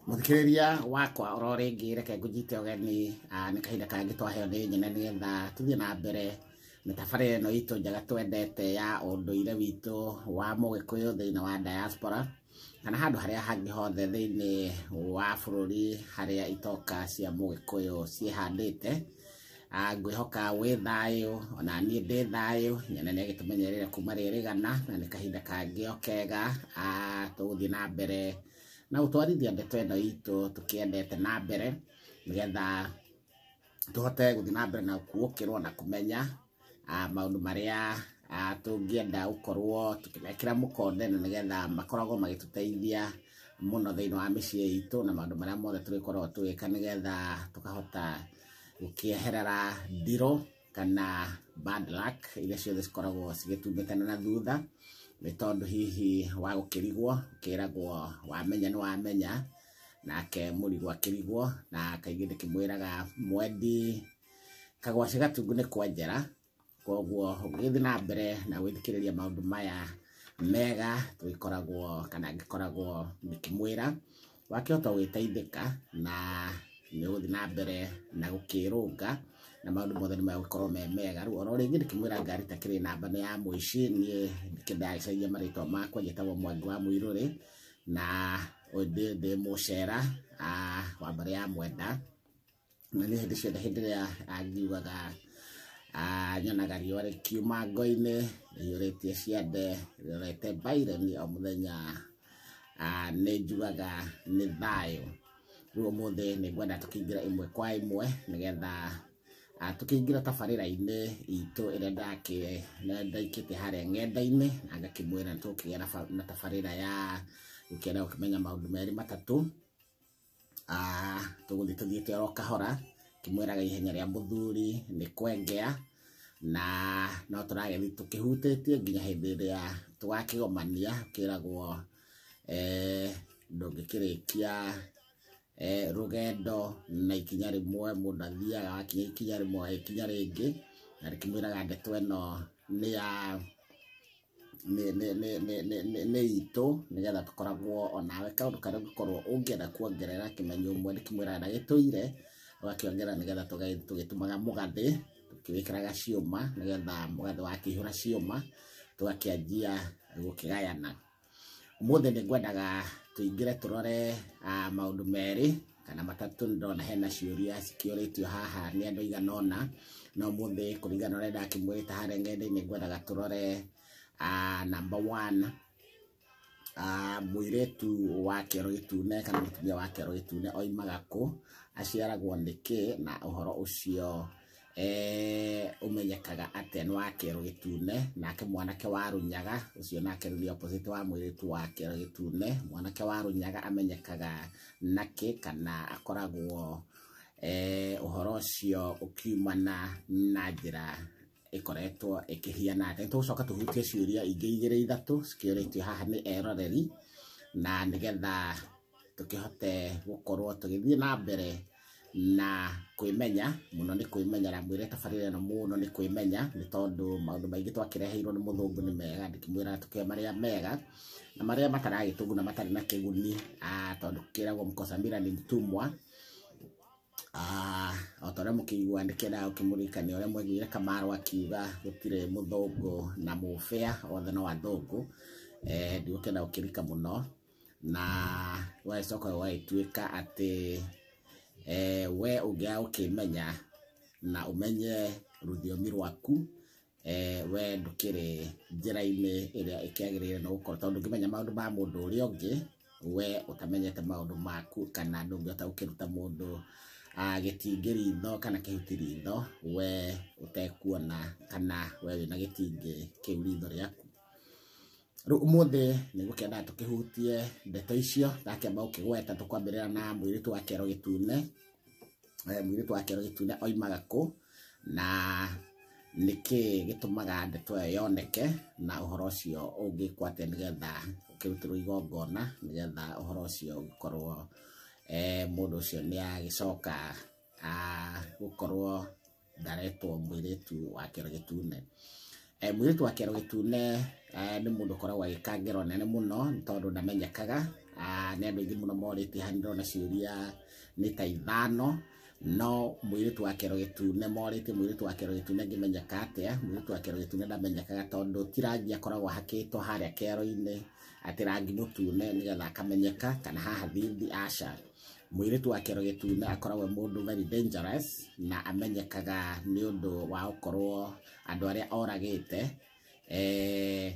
mũthikĩrĩria wakwa oro rĩngĩ reke ngũnyite ũgeni ah, nĩ kahinda kangĩ twaheo nĩ nyina nĩgetha tũthiĩ na mbere mĩtabarĩre ĩno itũ njega twendete ya ũndũire witũ wa mũgĩkũyũ thĩinĩ wa diaspora kana handũ harĩa hangĩ hothe thĩinĩ wa bũrũri harĩa itoka cia mũgĩkũyũ ciĩhandĩte Ah, ngwĩhoka wĩ thayũ ona niĩ ndĩ thayũ nyene nĩ agĩtũmenyerere kuma rĩrĩgana na nĩ kahinda kangĩ o kega Ah, tũgũthiĩ na mbere na gũtwarithia ndeto ĩno itũ tũkĩendete na mbere nĩgetha tũhote gũthiĩ na mbere na kuũkĩrwo na kũmenya ah, maũndũ marĩa ah, tũngĩenda gũkorwo tũkĩmekĩra mũkonde na nĩgetha makoragwo magĩtũteithia mũno thĩinĩ wa mĩciĩ itũ na maũndũ marĩa mothe tũrĩkoragwo tũgĩka nĩgetha tũkahota gũkĩeherera ndirũ kana bad luck iria ciothe cikoragwo cigĩtumbĩkana na thutha nĩ tondũ hihi wa gũkĩrigwo ũkĩragwo wamenya nĩ wamenya nake mũrigwo akĩrigwo na kaingĩ ndĩkĩmwĩraga mwendi kagwacĩ gatungu nĩ kwa njara koguo ũgĩthiĩ na mbere na gwĩthikĩrĩria maũndũ maya mega tũgĩkoragwo kana ngĩkoragwo ngĩkĩmwĩra wakĩhota gwĩteithĩka na nĩ ũgũthiĩ na mbere na gũkĩrũnga na maũndũ mothe nĩ magũkorwo me mega rĩu oro rĩngĩ ndĩkĩmwĩra ngari ta kĩrĩ namba nĩ ya mũici niĩ ndagĩcaria marĩtwa makwa njĩtagwo mwangi wa mũirũrĩ na ndĩ ndĩ mũcera ah, wa mbarĩ ya mwenda na nĩ hĩndĩ ciothe hĩndĩ ĩrĩa ah, njiugaga ah, nyonaga riũa rĩkiuma ngo-inĩ rĩiyũrĩtie ciande rĩrorete baireni o mũthenya ah, nĩ njugaga nĩ thayũ rĩu ũmũthĩ nĩ ngwenda tũkĩingĩra ĩmwe kwa ĩmwe nĩgetha ah, tũkĩingĩra tabarĩra-inĩ itũ ĩrĩa ndakĩ na- ndaikĩte harĩa ng'enda-inĩ na ngakĩmwĩra nĩ tũgũkĩgĩa na ba- na tabarĩra ya gũkĩenda gũkĩmenya maũndũ merĩ matatũ Ah, tũgũthiĩ tũthiĩte oro kahora kĩmwĩraga ihenya rĩa mũthuri nĩ kwengea na no tũragĩthiĩ tũkĩhutĩtie nginya hĩndĩ ĩrĩa tũgakĩgomania kĩragwo eh, ndũngĩkĩrĩkia eh, rũgendo na ikinya rĩmwe mũndũ athiaga wakinya ikinya rĩmwe ikinya rĩngĩ na rĩkĩmwĩraga ndeto ĩno nĩ ya nĩ- nĩ- nĩ- nĩ- nĩ- nĩ- nĩ itũ nĩgetha tũkoragwo onawe kaũndũ karĩa ũngĩkorwo ũngĩenda kuongerera kĩmenyo ũmwe nĩ kĩmwĩra na gĩtũire ũgakĩongerera nĩgetha tũge- tũgĩtumaga mũgathĩ tũkĩwĩkĩraga ciũma nĩgetha mũgathĩ wakĩihũra ciũma tũgakĩanjia gũkĩgayana ũmũthĩ nĩ ngwendaga tũingĩre tũrore ah, maũndũ merĩ kana matatũ nĩ ndona hena ciũria cikĩũrĩtio haha nĩ andũ aigana ũna na ũmũthĩ kũringana na ũrĩa ndakĩmwĩrĩte harĩa ngenda-inĩ ngwendaga tũrore ah, number one Ah, mũirĩtu wa kĩero gĩtune kana mũtumia wa kĩero gĩtune oimaga kũ aciaragwo nĩkĩ na ũhoro ũcio eh, ũmenyekaga atĩa nĩ wa kĩero gĩtune nake mwanake wa rũnyaga ũcio nake nĩ opposite wa mwĩrĩtu wa kĩero gĩtune mwanake wa rũnyaga amenyekaga nakĩ kana akoragwo eh, ũhoro ũcio ũkiumana na njĩra ĩkoretwo ĩkĩhiana atĩ tũgũcoka tũhutie ciũria ingĩ igĩrĩ ithatũ cikĩũrĩtio haha nĩ eroreri na nĩgetha tũkĩhote gũkorwo tũgĩthiĩ na mbere na kwĩmenya mũno nĩ kwĩmenyera mwĩre tabarĩra ĩno mũno nĩ kwĩmenya nĩ tondũ maũndũ maingĩ twakĩreheirwo nĩ mũthũngũ nĩ mega ndĩkĩmwĩra tũkĩoe marĩa mega na marĩa mataragĩtũguna matarĩ na kĩguni ah, tondũ kĩragwo mkosamira ni mtumwa Ah, o ta ũrĩa mũkĩigua nĩ kĩendaga gũkĩmũririkania ũrĩa mwaiguire kamaro akiuga gũtirĩ mũthũngũ na mũbĩa othe no athũngũ Eh, ndigũkĩenda gũkĩrika mũno na wagĩcoka ũgagĩtuĩka atĩ eh, we ũngĩaga gũkĩmenya na ũmenye rũthiomi rwaku eh, we ndũkĩrĩ njĩra-inĩ ĩrĩa ĩkĩagĩrĩire na gũkorwo tondũ ndũngĩmenya maũndũ ma mũndũ ũrĩa ũngĩ we ũtamenyete maũndũ maku kana ndũngĩhota gũkĩruta mũndũ ah, gĩtingĩ ritho kana kĩhuti ritho we ũtekuona kana we wĩna gĩtingĩ kĩu ritho rĩaku Rĩu ũmũthĩ nĩ gũkĩendaga tũkĩhutie ndeto icio ndakĩamba gũkĩgweta tũkwambĩrĩra na mũirĩtu wa kĩero gĩtune Eh, mũirĩtu wa kĩero gĩtune oimaga kũ na nĩkĩ gĩtũmaga ndeto ĩyo yoneke na ũhoro ũcio ũngĩkwo atĩa nĩgetha ũkĩrutĩrwo igongona nĩgetha ũhoro ũcio ũgĩkorwo eh, mũndũ ũcio nĩ agĩcoka ah, gũkorwo ndaretwo mwĩrĩtu wa kĩero gĩtune Eh, mwĩrĩtu wa kĩero gĩtune eh, nĩ mũndũ ũkoragwo agĩka ngero nene mũno nĩ tondũ ndamenyekaga Ah, nĩ andũ aingĩ mũno morĩtie haha nĩndĩrona ciũria nĩ ta ithano no mwĩrĩtu wa kĩero gĩtune morĩtie mwĩrĩtu wa kĩero gĩtune ngĩmenyeka atĩa mwĩrĩtu wa kĩero gĩtune ndamenyekaga tondũ ti rangi akoragwo ahakĩtwo harĩa kĩero-inĩ atĩ rangi mũtune nĩgetha akamenyeka kana haha thithi aca Mũirĩtu wa kĩero gĩtune akoragwo e mũndũ very dangerous na amenyekaga nĩ ũndũ wa gũkorwo andũ arĩa oragĩte eh,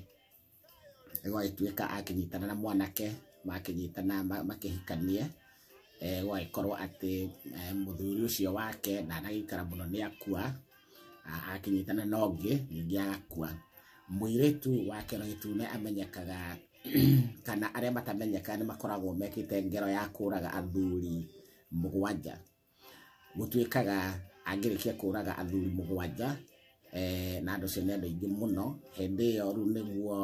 gwagĩtuĩka akĩnyitana na mwanake makĩnyitana ma- makĩhikanie eh, gwagĩkorwo atĩ eh, mũthuri ũcio wake ndanagĩikara mũno nĩ akua a- akĩnyitana na ũngĩ ningĩ agakua mũirĩtu wa kĩero gĩtune amenyekaga kana arĩa matamenyeka nĩ makoragwo mekĩte ngero ya kũraga athuri mũgwanja gũtuĩkaga angĩrĩkia kũraga athuri mũgwanja eh, na andũ ũcio nĩ andũ aingĩ mũno hĩndĩ ĩyo rĩu nĩguo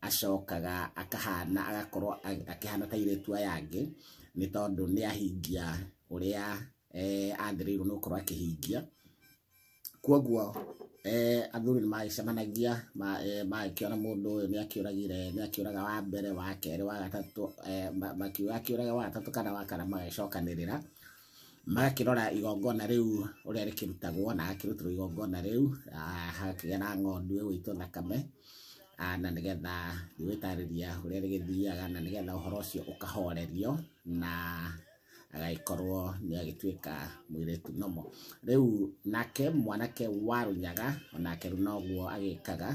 acokaga akahana agakorwo a- akĩhana ta irĩtu aya angĩ nĩ tondũ nĩ ahingia ũrĩa eh, athĩrĩirwo nĩ gũkorwo akĩhingia kwoguo eh, athuri nĩ magĩcemanagia ma- eh, magĩkĩona mũndũ ũyũ nĩ akĩũragire nĩ akĩũraga wa mbere wa kerĩ wa gatatũ eh, ma- makiuga akĩũraga wa gatatũ kana wa kana magĩcokanĩrĩra magakĩrora igongona rĩu ũrĩa rĩkĩrutagwo na agakĩrutĩrwo igongona rĩu ah, hagakĩgĩa na ng'ondu ĩgũitwo thakame Ah, na nĩgetha rĩgwĩtarĩria ũrĩa rĩgĩthiaga na nĩgetha ũhoro ũcio ũkahorerio na agagĩkorwo nĩ agĩtuĩka mwĩrĩtu nomo rĩu nake mwanake wa rũnyaga onake rĩu noguo agĩkaga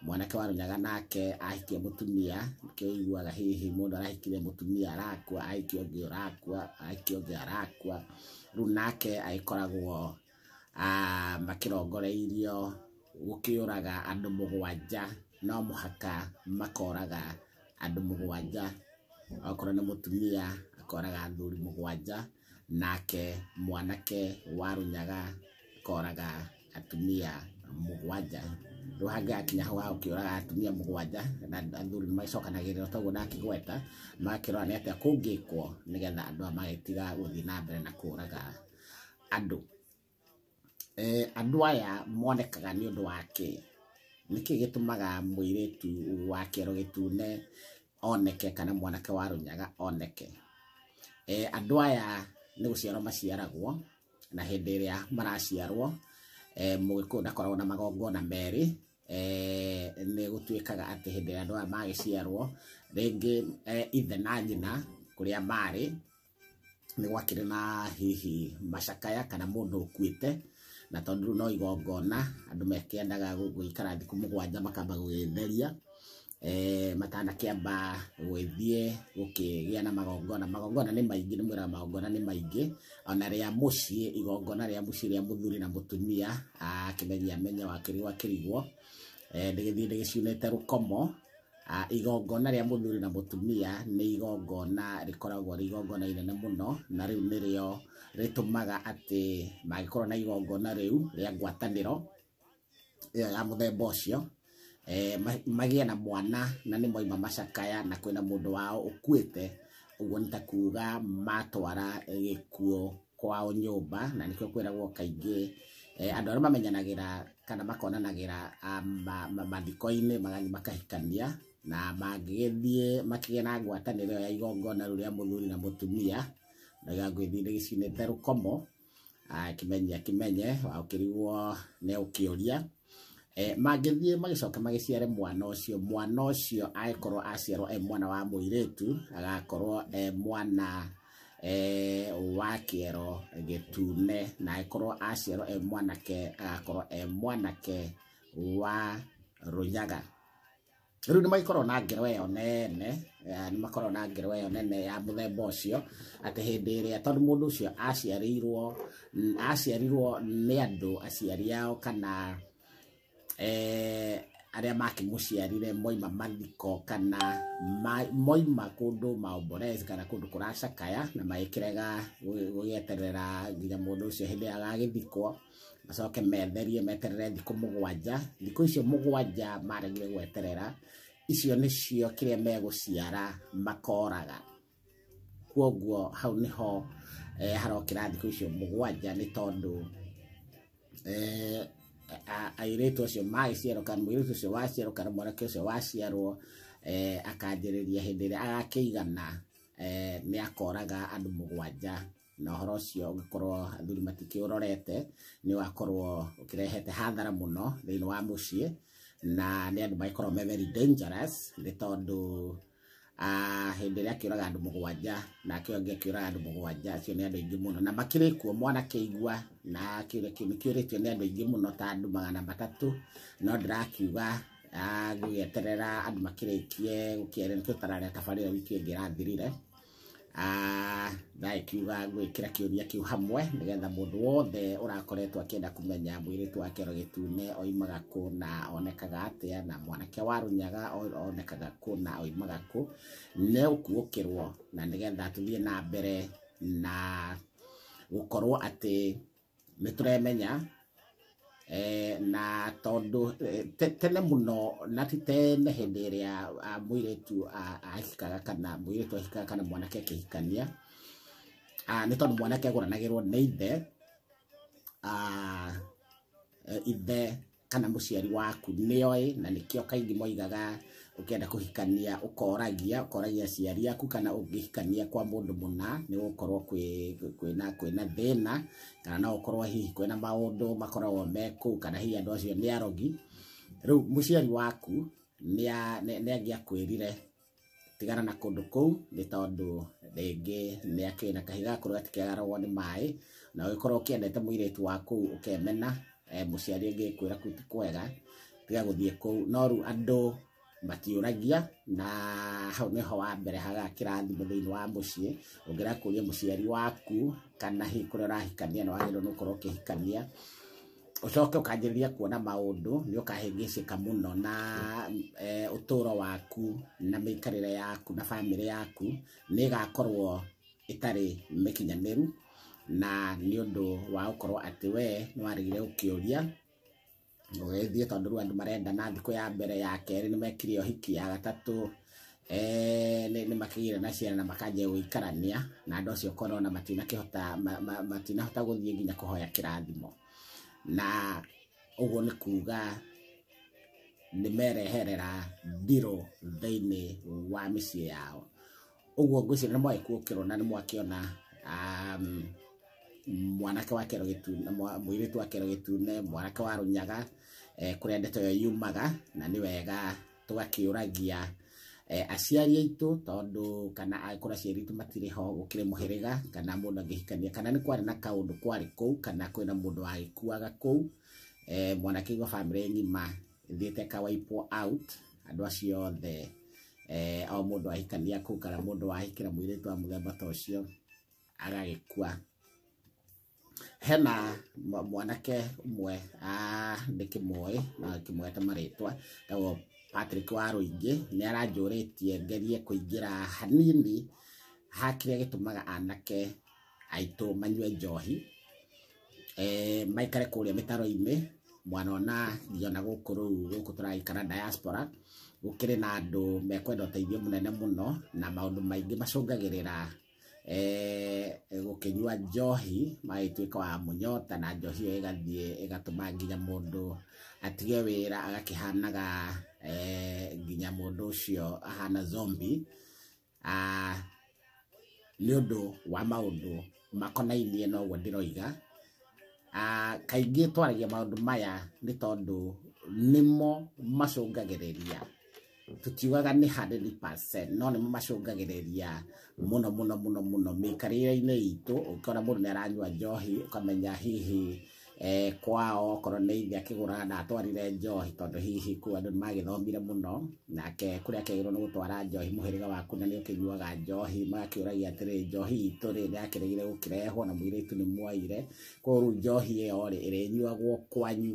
mwanake wa rũnyaga nake ahikia mũtumia kĩiguaga hihi mũndũ arahikire mũtumia arakua ahikia ũngĩ ũrakua ahikia ũngĩ arakua rĩu nake agĩkoragwo ah, makĩrongoreirio gũkĩũraga andũ mũgwanja no mũhaka makoraga andũ mũgwanja okorwo nĩ mũtumia akoraga athuri mũgwanja nake mwanake wa rũnyaga akoraga atumia mũgwanja rĩu hangĩgakinya hau ha gũkĩũraga atumia mũgwanja na athuri nĩ magĩcokanagĩrĩra toguo ndakĩgweta magakĩrora nĩ atĩa kũngĩkwo nĩgetha andũ aya magĩtiga gũthiĩ na mbere na kũũraga andũ eh, andũ aya monekaga nĩ ũndũ wa kĩĩ nĩkĩ gĩtũmaga mũirĩtu wa kĩero gĩtune oneke kana mwanake wa rũnyaga oneke eh, andũ aya nĩ gũciarwo maciaragwo na hĩndĩ ĩrĩa maraciarwo eh, mũgĩkũyũ ndakoragwo na magongona merĩ eh, nĩ gũtuĩkaga atĩ hĩndĩ ĩrĩa andũ aya magĩciarwo rĩngĩ eh, ithe na nyina kũrĩa marĩ nĩ gwakĩrĩ na hihi macakaya kana mũndũ ũkuĩte na tondũ rĩu no igongona andũ mekĩendaga gũ- gũikara thikũ mũgwanja makamba gũgĩtheria eh, matanakĩamba gwĩthiĩ gũkĩgĩa na magongona magongona nĩ maingĩ nĩ mwĩra magongona nĩ maingĩ ona rĩa mũciĩ igongona rĩa mũciĩ rĩa mũthuri na mũtumia akĩmenyia menya wakĩrigwo akĩrigwo eh, ndĩgĩthiĩ ndĩgĩciunĩte rũkomo Ah, igongona rĩa mũthuri na mũtumia nĩ igongona rĩkoragwo rĩ igongona inene mũno na rĩu nĩrĩo rĩtũmaga atĩ mangĩkorwo na igongona rĩu rĩa ngwatanĩro ĩyo ya mũthemba ũcio eh, ma- magĩe na mwana na nĩ moima macakaya na kwĩna mũndũ wao ũkuĩte ũguo nĩ ta kuga matwara gĩkuũ kwao nyũmba na nĩkĩo kwĩragwo kaingĩ eh, andũ arĩa mamenyanagĩra kana makonanagĩra ah, ma- ma- mathiko-inĩ magathiĩ makahikania na mangĩgĩthiĩ makĩgĩa na ngwatanĩro ĩyo ya igongona rĩu rĩa mũthuri na mũtumia ndaiga ngwĩthiĩ nĩ gĩcinĩte rũkomo Ah, kĩmenya kĩmenye ũkĩrigwo nĩ ũkĩũria Eh, mangĩthiĩ magĩcoke magĩciare mwana ũcio mwana ũcio angĩkorwo aciarwo e mwana wa mũirĩtu agakorwo e mwana eh, wa kĩero gĩtune na angĩkorwo aciarwo e mwanake agakorwo e mwanake wa rũnyaga rĩu nĩ magĩkorwo na ngero ĩyo nene eh, nĩ makorwo na ngero ĩyo nene ya mũthemba ũcio atĩ hĩndĩ ĩrĩa tondũ mũndũ ũcio aciarĩirwo n- aciarirwo nĩ andũ aciari ao kana eh, arĩa makĩmũciarire moima mathiko kana ma- moima kũndũ maomborezi kana kũndũ kũracakaya na magĩkĩrega gũgĩ- gũgĩeterera nginya mũndũ ũcio hĩndĩ ĩrĩa agagĩthikwo macoke metherie meterere thikũ mũgwanja thikũ icio mũgwanja maregire gweterera icio nĩcio kĩrĩa megũciara makoraga kwoguo hau nĩho eh, harokĩra thikũ icio mũgwanja nĩ tondũ eh, a- airĩtu acio magĩciarwo kana mũirĩtu ũcio waciarwo kana mwanake ũcio waciarwo eh, akanjĩrĩria hĩndĩ ĩrĩa agakĩigana eh, nĩ akoraga andũ mũgwanja na horo ũcio ũngĩkorwo athuri matikĩũrorete nĩ wakorwo ũkĩrehete hathara mũno thĩinĩ wa mũciĩ na nĩ andũ magĩkorwo me very dangerous nĩ tondũ ah, hĩndĩ ĩrĩa akĩũraga andũ mũgwanja na akĩo angĩ akĩũraga andũ mũgwanja acio nĩ andũ aingĩ mũno na makĩrĩ kuo mwana kĩigua na kĩũria kĩu nĩkĩũrĩtio nĩ andũ aingĩ mũno ta andũ magana matatũ no ndĩrakiuga ah, ngũgĩeterera andũ makĩrĩkie gũkĩarĩkia tabarĩra wiki ĩngĩ ĩrathirire Ah, ndaĩkiuga ngwĩkĩra kĩũria kĩu hamwe nĩgetha mũndũ wothe ũrakoretwo akĩenda kũmenya mwĩrĩtu wa kĩero gĩtune oimaga kũ na onekaga atĩa na mwanake wa rũnyaga o- onekaga kũ na oimaga kũ nĩ ũkuũkĩrwo na nĩgetha tũthiĩ na mbere na gũkorwo atĩ nĩ tũremenya eh, na tondũ eh, te- tene mũno na ti tene hĩndĩ ĩrĩa ah, mũirĩtu ah, ahikaga kana mũirĩtu ahikaga kana mwanake akĩhikania ah, nĩ tondũ mwanake agũranagĩrwo nĩ ithe ah, eh, ithe kana mũciari waku nĩoĩ na nĩkĩo kaingĩ moigaga ũkĩenda kũhikania ũkoragia ũkoragia aciari aku kana ũngĩhikania kwa mũndũ mũna nĩ gũkorwo kwĩ- kwĩna kwĩna thĩna kana no ũkorwo hihi kwĩna maũndũ makoragwo me kũu kana hihi andũ acio nĩ arogi rĩu mũciari waku nĩa- nĩ- nĩangĩakwĩrire tigana na kũndũ kũu nĩ tondũ rĩngĩ nĩ akĩrĩ na kahiga gakorwo gatikĩagaragwo nĩ maĩ na ũgĩkorwo ũkĩendete mũirĩtu wa kũu ũkemena eh, mũciari ũngĩkwĩra kũu ti kwega tiga gũthiĩ kũu no rĩu andũ matiũragia na hau nĩho wa mbere haga kĩrathimo thĩinĩ wa mũciĩ ũngĩra kũria mũciari waku kana hihi kũrĩa ũrahikania na wagĩrĩirwo nĩ gũkorwo ũkĩhikania ũcoke ũkanjĩrĩria kuona maũndũ nĩ ũkahĩngĩcĩka mũno na eh, ũtũũro waku na mĩikarĩre yaku na bamĩrĩ yaku nĩ ĩgakorwo ĩtarĩ mĩkinyanĩru na nĩ ũndũ wa gũkorwo atĩ we nĩ waregire gũkĩũria ũgĩthiĩ tondũ rĩu andũ marendana thikũ ya mbere ya kerĩ nĩ mekire ũhiki ya gatatũ eh, nĩ nĩ makĩgĩire na ciana na makanjia gũikarania na andũ acio korwo na matinakĩhota ma- ma- matinahota gũthiĩ nginya kũhoya kĩrathimo na ũguo nĩ kuga nĩ mereherera ndirũ thĩinĩ wa mĩciĩ yao ũguo ngwĩciria nĩ mwaĩ kuokĩrwo na nĩ mwakĩona um, mwanake wa kero gĩtune mwa- mũirĩtu wa kero gĩtune mwanake wa rũnyaga eh, kũrĩa ndeto ĩyo yumaga na nĩ wega tũgakĩũragia eh, aciari aitũ tondũ kana angĩkorwo aciari aitũ matirĩ ho gũkĩrĩ mũhĩrĩga kana mũndũ angĩhikania kana nĩ kwarĩ na kaũndũ kwarĩ kũu kana kwĩna mũndũ wagĩkuaga kũu eh, mwanake igua bamĩrĩ ng'ima thiĩte ka wipe out andũ acio othe eh, o mũndũ ahikania kũu kana mũndũ wahikĩra mũirĩtu wa mũthemba ta ũcio agagĩkua hena mwa- mwanake ũmwe ah, ndĩkĩmũĩ na kĩmwete marĩtwa tagwo Patrick wa Rũingĩ nĩ aranjũrĩtie ngerie kũingĩra hanini ha kĩrĩa gĩtũmaga anake aitũ manyue njohi eh, maikare kũrĩa mĩtaro-inĩ mwana ona ngiona gũkũ rĩu gũkũ tũragĩikara diaspora gũkĩrĩ na andũ mekwenda ũteithio mũnene mũno na maũndũ maingĩ macũngagĩrĩra eh, gũkĩnyua njohi magagĩtuĩka wa mũnyota na njohi ĩyo ĩgathiĩ ĩgatũma nginya mũndũ atige wĩra agakĩhanaga eh, nginya mũndũ ũcio ahana zombi Ah, nĩ ũndũ wa maũndũ makonainie na ũguo ndĩroiga Ah, kaingĩ twaragia maũndũ maya nĩ tondũ nĩmo macũngagĩrĩria tutiugaga nĩ 100% no nĩ mamacũngagĩrĩria mũno mũno mũno mũno mĩikarĩre-inĩ itũ ũkĩona mũndũ nĩ aranyua njohi ũkamenya hihi eh, kwao okorwo nĩ ithe akĩgũra na atwarire njohi tondũ hihi kũu andũ nĩ magĩthomire mũno nake kũrĩa akĩagĩrwo nĩ gũtwara njohi mũhĩrĩga waku na nĩ ũkĩnyuaga njohi magakĩũragia atĩrĩ njohi itũ rĩ nĩ yakĩrĩgire gũkĩrehwo na mũirĩtu nĩ mwaire koguo rĩu njohi ĩyo rĩ ĩrĩnyuagwo kwanyu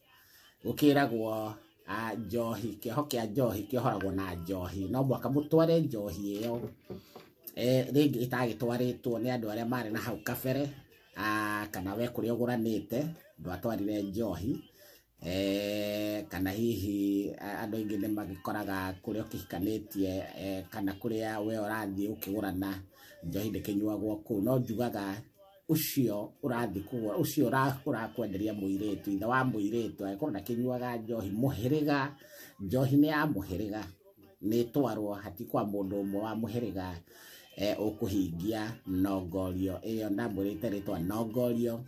gũkĩragwo ah, njohi kĩoho kĩa njohi kĩohoragwo na njohi no mwaka mũtware njohi ĩyo eh, rĩngĩ ĩtagĩtwarĩtwo nĩ andũ arĩa marĩ na hau kabere ah, kana we kũrĩa ũgũranĩte ndwatwarire njohi eh, kana hihi a- andũ aingĩ nĩ magĩkoraga kũrĩa ũkĩhikanĩtie eh, kana kũrĩa we ũrathiĩ ũkĩgũrana njohi ndĩkĩnyuagwo kũu no njugaga ũcio ũrathiĩ kũgũra ũcio ũra- ũrakwenderia mũirĩtu ithe wa mũirĩtu angĩkorwo ndakĩnyuaga njohi mũhĩrĩga njohi nĩ ya mũhĩrĩga nĩ ĩtwarwo hati kwa mũndũ ũmwe wa mũhĩrĩga eh, ũkũhingia nongorio ĩyo ndamwĩrĩte rĩtwa nongorio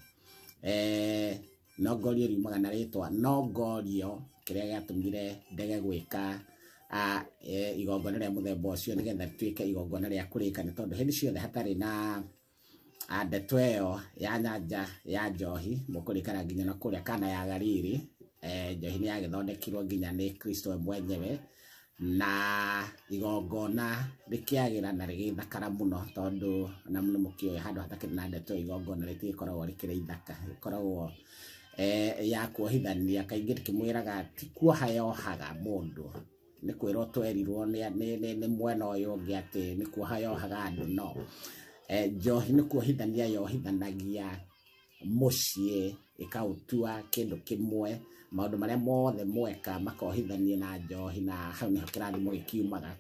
eh, nongorio riumaga na rĩtwa nongorio kĩrĩa gĩatũmire ndege gwĩka ah, eh, igongona rĩa mũthemba ũcio nĩgetha rĩtuĩke igongona rĩa kũrĩka nĩ tondũ hĩndĩ ciothe hatarĩ na Ah, ndeto ĩyo ya nyanja ya njohi mũkũrĩkana nginya na kũrĩa kana ya galili eh, njohi nĩ yagĩthondekirwo nginya nĩ kristo we mwenyewe na igongona rĩkĩagĩra na rĩgĩthakara mũno tondũ na nĩ mũkĩũĩ handũ hatakĩrĩ na ndeto igongona rĩtigĩkoragwo rĩkĩrĩ ithaka rĩkoragwo eh, ya kuohithania kaingĩ rĩkĩmwĩraga ti kuoha yohaga mũndũ nĩ kwĩrwo twerirwo nĩ nĩ- nĩ- nĩ mwena ũyũ ũngĩ atĩ nĩ kuoha yohaga andũ no Eh, njohi nĩ kuohithania yohithanagia mũciĩ ĩkaũtua kĩndũ kĩmwe maũndũ marĩa mothe mweka makohithanie na njohi na hau nĩho kĩrathimo gĩkiumaga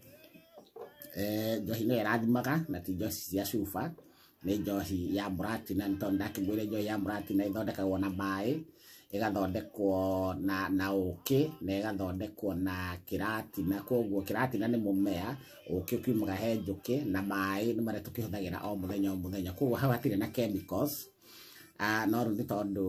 Eh, njohi nĩyo ĩrathimaga na ti njohi cia cuba nĩ njohi ya mũratina nĩ tondũ ndakĩmwĩre njohi ya mũratina ĩthondekagwo na maĩ ĩgathondekwo na na ũkĩ na ĩgathondekwo na kĩratina koguo kĩratina nĩ mũmea ũkĩ ũkiumaga he njũkĩ na maĩ nĩ marĩa tũkĩhũthagĩra o mũthenya o mũthenya koguo hau hatirĩ na chemicals Ah, no rĩu nĩ tondũ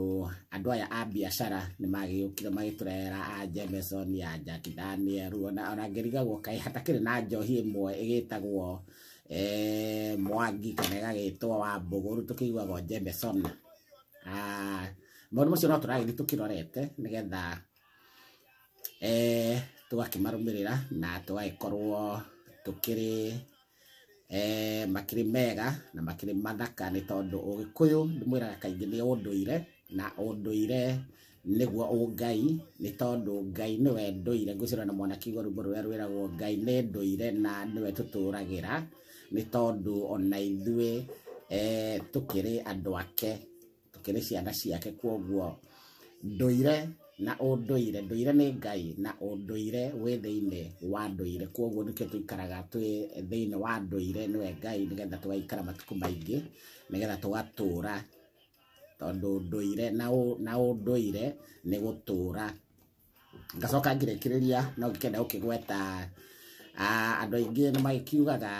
andũ aya a biacara nĩ magĩũkire magĩtũrehera a Jameson ya Jack Daniel ona ona ngĩrigagwo kaĩ hatakĩrĩ na njohi ĩmwe ĩgĩtagwo eh, mwangi kana ĩgagĩtwo wa mbũgũru tũkĩiguagwo njembe sona Ah, maũndũ macio no tũragĩthiĩ tũkĩrorete nĩgetha eh, tũgakĩmarũmĩrĩra na tũgagĩkorwo tũkĩrĩ eh, makĩrĩ mega na makĩrĩ mathaka nĩ tondũ ũgĩkũyũ ndĩmwĩraga kaingĩ nĩ ũndũire na ũndũire nĩguo ũngai nĩ tondũ Ngai nĩwe ndũire ngwĩciria na mwana kiugo rwĩmbo rũrĩa rwĩragwo Ngai nĩ ndũire na nĩwe tũtũragĩra nĩ tondũ ona ithuĩ eh, tũkĩrĩ andũ ake tũkĩrĩ ciana ciake kwoguo ndũire na ũndũire ndũire nĩ ngai na ũndũire wĩ thĩinĩ wa ndũire kwoguo nĩkĩo tũikaraga twĩ thĩinĩ wa ndũire nĩwe ngai nĩgetha tũgaikara matukũ maingĩ nĩgetha tũgatũra tondũ ndũire na ũ- na ũndũire nĩ gũtũũra ngacoka ngĩrĩkĩrĩria no ngĩkenda gũkĩgweta ah, andũ aingĩ nĩ magĩkiugaga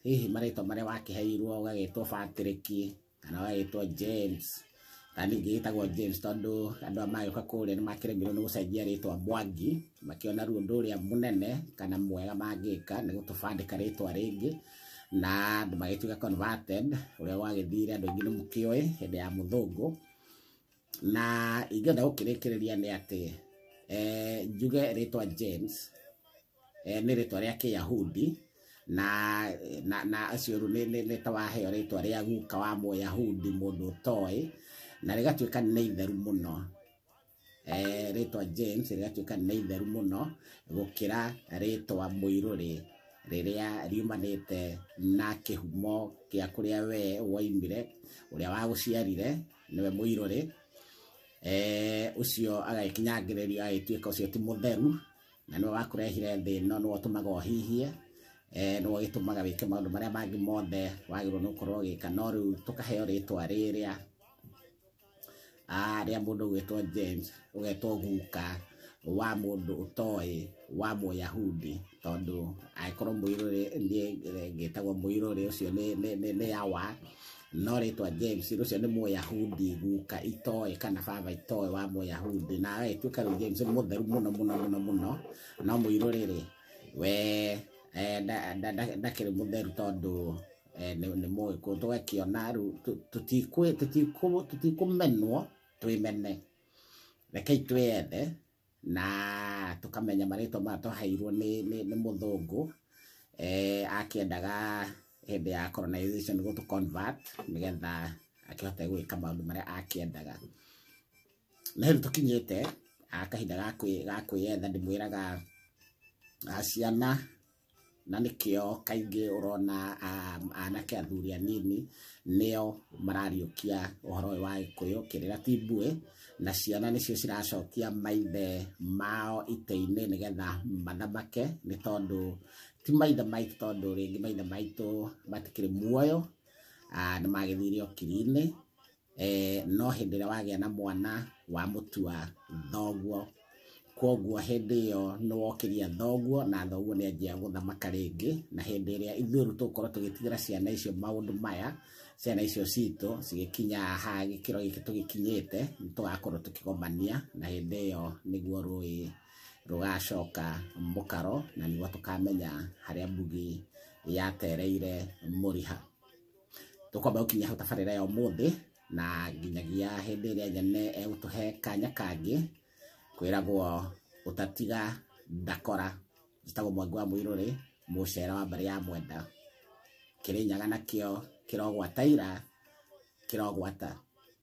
hihi marĩtwa marĩa wakĩheirwo ũgagĩtwo Patrick kana ũgagĩtwo James kana ningĩ gĩtagwo James tondũ andũ a magĩũka kũrĩa nĩ makĩremirwo nĩ gũcenjia rĩtwa Mwangi makĩona ruo ũndũ ũrĩa mũnene kana mwega mangĩka nĩ gũtũbandĩka rĩtwa rĩngĩ na andũ magĩtuĩka converted ũrĩa gwagĩthire andũ aingĩ nĩ mũkĩoĩ hĩndĩ ya mũthũngũ na ingĩenda gũkĩrĩkĩrĩria nĩ atĩ eh, njuge rĩtwa James eh, nĩ rĩtwa rĩa kĩyahudi na na na acio rĩu nĩ- nĩ- nĩ ta waheo rĩtwa rĩa guka wa mũyahudi mũndũ ũtoĩ na rĩgatuĩka nĩ itheru mũno eh, rĩtwa James rĩgatuĩka nĩ itheru mũno gũkĩra rĩtwa mũirũrĩ rĩrĩa riumanĩte na kĩhumo gĩa kũrĩa we waimire ũrĩa wagũciarire nĩwe mũirũrĩ eh, ũcio agagĩkinyangĩrĩrio agagĩtuĩka ũcio ti mũtheru na nĩwe wakũrehire thĩ ĩno nĩwe ũtũmaga ũhihie eh, nĩwe ũgĩtũmaga wĩke maũndũ marĩa mangĩ mothe wagĩrĩirwo nĩ gũkorwo ũgĩka no rĩu tũkaheo rĩtwa rĩrĩa rĩa mũndũ ũgwĩtwo James ũgetwo guka wa mũndũ ũtoĩ wa mũyahudi tondũ angĩkorwo mũirũrĩ ngĩtagwo mũirũrĩ ũcio nĩ yawa no rĩtwa James ũcio nĩ mũyahudi guka itoĩ kana baba itoĩ wa mũyahudi na agagĩtuĩka rĩu James nĩ mũtheru mũno mũno mũno mũno no mũirũrĩ rĩ we ndakĩrĩ mũtheru tondũ eh, nĩ nĩ mũĩ kũ tũgakĩona rĩu tũ- tũtikũ- tũtikũ- tũtikũmenwo twĩmene rekei twĩyethe na tũkamenya marĩtwa maya twaheirwo nĩ nĩ- nĩ mũthũngũ eh, akĩendaga hĩndĩ ya colonization gũtũ convert nĩgetha akĩhote gwĩka maũndũ marĩa akĩendaga na hĩndĩ tũkinyĩte ah, kahinda ga kwĩ- ga kwĩyetha ndĩmwĩraga ah, ciana na nĩkĩo kaingĩ ũrona anake athuri anini nĩo marariũkia ũhoro ũyũ wa gĩkũyũ kĩrĩra ti mbuĩ na ciana nĩcio ciracokia maithe mao itĩ-inĩ nĩgetha mathamake nĩ tondũ ti maithe maitũ tondũ rĩngĩ maithe maitũ matikĩrĩ muoyo nĩ magĩthire o kiri-inĩ eh, no hĩndĩ ĩrĩa wagĩa na mwana wa mũtua thoguo koguo hĩndĩ ĩyo nĩ wokĩria thoguo na thoguo nĩ anjia gũthamaka rĩngĩ na hĩndĩ ĩrĩa ithuĩ rĩu tũgũkorwo tũgĩtigĩra ciana icio maũndũ maya ciana icio citũ cigĩkinya ha gĩkĩro gĩkĩ tũgĩkinyĩte nĩ tũgakorwo tũkĩgomania na hĩndĩ ĩyo nĩguo rũĩ rũgacoka mũkaro na nĩguo tũkamenya harĩa mbugi yatereire mũriha tũkwamba gũkinya hau tabarĩra ya ũmũthĩ na nginyagia hĩndĩ ĩrĩa nyene egũtũhe kanya kangĩ kwĩragwo ũtatiga ndakora njĩtagwo mwangi wa mũirũrĩ mũcera wa mbarĩ ya mwenda kĩrĩnyaga nakĩo kĩrogwataira kĩrogwata